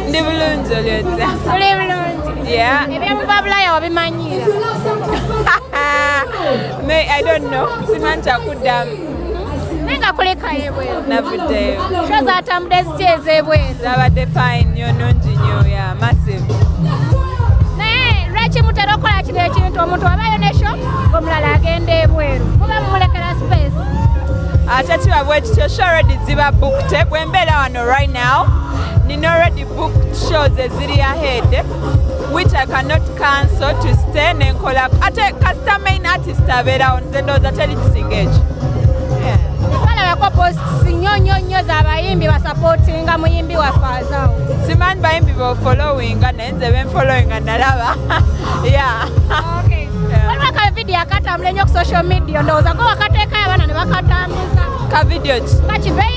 ndi bulungi olyotya oli bulungi ebyomuva bulaya wabimanyiira me i don't know simanyi kyakuddamu naye nga kulekayo ebweru navuddeyo sho zatambude zitya ez'ebweru zabadde fine nyo nungi nyo ya massive naye lwaki mutera okukola kino ekintu omuntu wabayo ne sho omulala agenda ebweru muba mumulekera space ate kiba bwekityo sho redi ziba bukute bwembeera wano Right now, Nina already booked shows eziri ahead which I cannot cancel to stay nenkola ate kasita main artist abeerawo nze ndowooza teri kisinga ekyo balabako posts nnyo nnyo nnyo zabayimbi basapotinga muyimbi waffe azawo simanyi bayimbi befollowinga naye nze benfollowinga nalaba ya waliwo ka vidiyo akatambula ennyo ku social media ndowooza go wakateekayo abaana ne bakatambuza ka vidiyo ki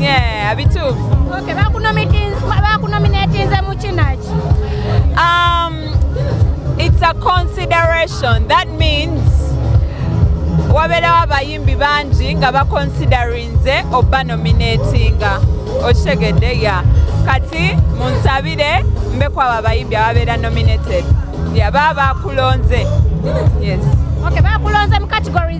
Yeah, abituufu. Okay, bakunominatinze mu kinaki? Um, it's a consideration. That means wabeerawo abayimbi bangi nga bakonsiderinze oba nominatinga okitegedde ya kati munsabire mbeku abo abayimbi ababeera nominated yaba bakulonze yes okay, bakulonze mu category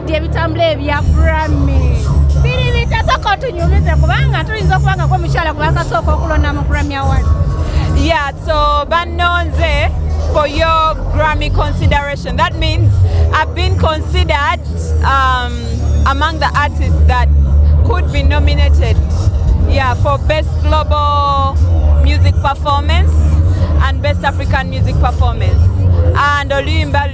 Ndi ebitambula ebya Grammy biri bitasooka otunyumize kubanga tuyinza okuba nga gwomukyala gwakasooka okulonda mu Grammy Award. Yeah, so bannonze for your Grammy consideration. That means I've been considered um, among the artists that could be nominated yeah, for Best Global Music Performance and Best African Music Performance. And Oluyimba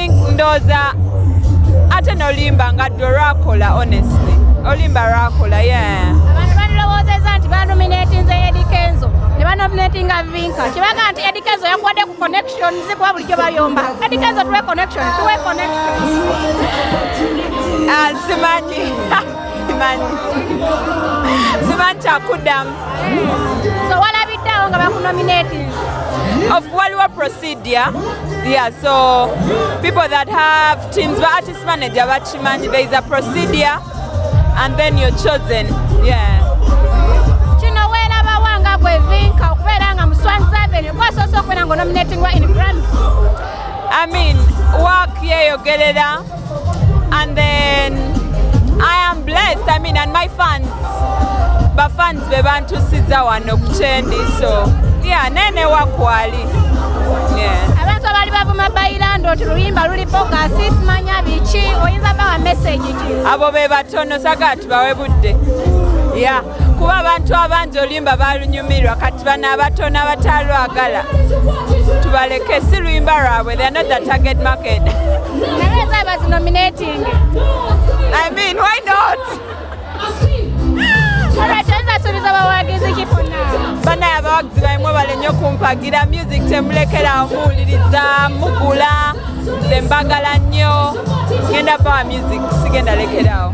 ndoza ate nolimba nga dwe lwakola honestly olimba lwakola ye abantu bandirowoozeza nti banominatinze edikenzo ne banominatinga vinka kibaga nti edikenzo yakuwadde ku connection zikuba bulijjo bayomba edikenzo tuwe connection tuwe connection ah, simanyi simanyi kyakuddamu so walabiddeawo nga bakunominati of waliwo procedure yeah so people that have teams ba artist manager bakimanyi there is a procedure and then you're chosen yeah kino welabawa nga gwevinka okubeera nga muswanzaveni gwasoose okubeera nga onominatingwa in grand i mean work yeyogerera yeah, And then I am blessed, I mean, and my fans, ba fans be bantusiza wano kuchendi, so yeah, nene wakwali. Yeah. Abantu abali bavuma bayilando ti luyimba luli boga sis manya bichi oyinza bawa message ti. Abo be batono sagatu bawe budde. Yeah. kuba abantu abangi oluyimba balunyumirwa kati bano abato n'abataalwagala tubaleke si luyimba lwabwe they are not the target market I mean, why not? banaye abawagizi baimwe bale nnyo kumpagira music temulekerawo muwuliriza mugula nze mbagala nnyo genda bawa music sigenda lekerawo